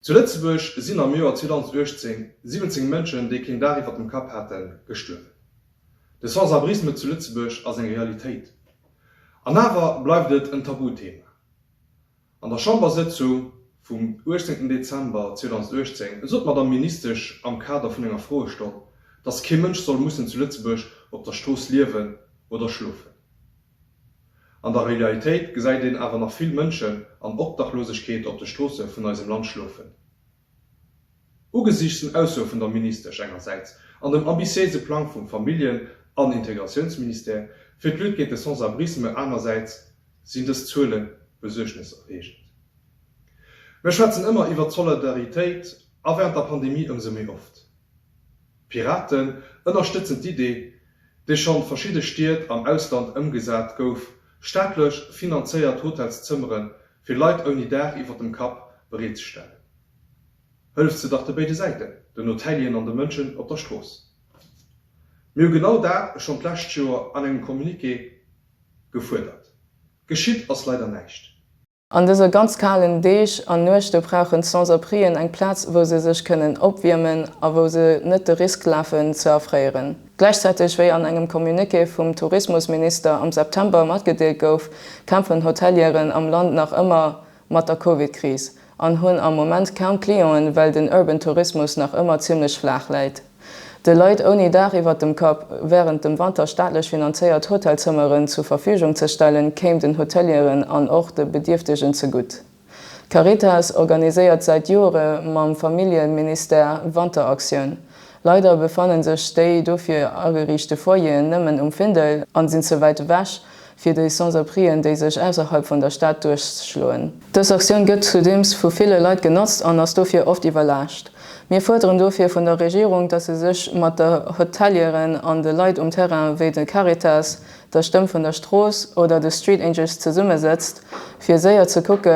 Zu Lëtzebuerg sinn am Joer 2018 17 Mënschen, déi keen Daach iwwert dem Kapp haten, gestuerwen. De Sans-abrisme zu Lëtzebuerg ass eng Realitéit. An awer bleift et en Tabuthema. An der Chambersëtzung vum 18 Dezember 2018 sot d'Madamm Ministesch am Kader vun enger Froestonn, dass kee Mënsch soll mussen zu Lëtzebuerg op der Strooss liewen oder schlofen. An der Realitéit gesäit een awer nach vill Mënschen an Obdachlosegkeet op de Stroosse vun eisem Land schlofen. Ugesiichts den Aussoe vun der Ministesch engersäits an dem ambitiéise Plang vum Familljen an Integratiounsministère fir d'Lutte géint de Sans-abrisme anersäits, sinn dës Zuele besuergneserreegend. Mär schwätzen ëmmer iwwert d'Solidaritéit a während der Pandemie ëmsou méi oft. D'Piraten ënnerstëtzen d'Idee, déi schonn verschidde Stied am Ausland ëmgesat gouf, staatlech finanzéiert Hotelszëmmere fir Leit ouni Daach iwwer dem Kapp bereetzestellen. Hëlleft se dach de béide Säiten, den Hotelieren an de Mënschen op der Strooss. Mir hu genau dat schonn d'lescht Joer an engem Communiqué gefuerdert. Geschitt ass leider näischt. An dëse ganz kalen Deeg an Nuechte brauchen d'Sans-abrien eng Plaz, wou se sech kënnen opwiermen a wou se net de Risk lafen, ze erfréieren. Gläichzäiteg, wéi an engem Communiqué vum Tourismusminister am September matgedeelt gouf, kämpfen Hotelieren am Land nach ëmmer mat der Covid-Kris an hunn am Moment kaum Clienten, well den Urban Tourismus nach ëmmer zimmlech flaach läit. de Leit ouni Daach iwwert dem Kapp wärend dem Wanter staatlech finanzéiert Hotelzëmmeren zur Verfügung ze stellen, kéim den Hotelieren an och de Bedierftegen zegutt. D'Caritas organiséiert säit Joere mam Familljeministère Wanteraktioun. Leider befanne sech déi dofir ageriichte Foyeren nëmmen um Findel an sinn ze wäit ewech, fir déi Sans-Abrien, déi sech ausserhalb vun der Stad duerchschloen. Dës Aktioun gëtt zudeems vu ville Leit genotzt an ass dofir oft iwwerlaascht. Mir fuerderen dofir vun der Regierung, dass se sech mat de Hotelieren an de Leit um Terrain wéi de Caritas, der Stëmm vun der Strooss oder de Street Angels zesummesëtzt, fir séier ze kucke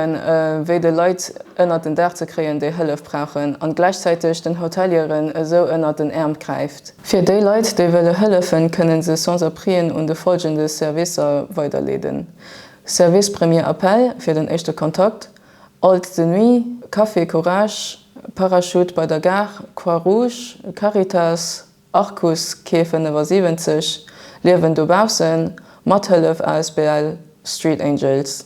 wéi de Leit ënnert den Daach ze kréien, déi Hëllef brauchen, an gläichzäiteg den Hotelieren esou ënnert den Äerm gräift. Fir déi Leit, déi wëlle hëllefen, kënne se Sans-Abrien un de follgende Servicer weiderleeden, Service Premier Appel fir den éischte Kontakt, Alt de Nuit, Café Courage, Parachute bei der Gare, Croix-Rouge, Caritas, Arcus Quai 75, Liewen dobaussen, Mathëllef asbl Street Angels.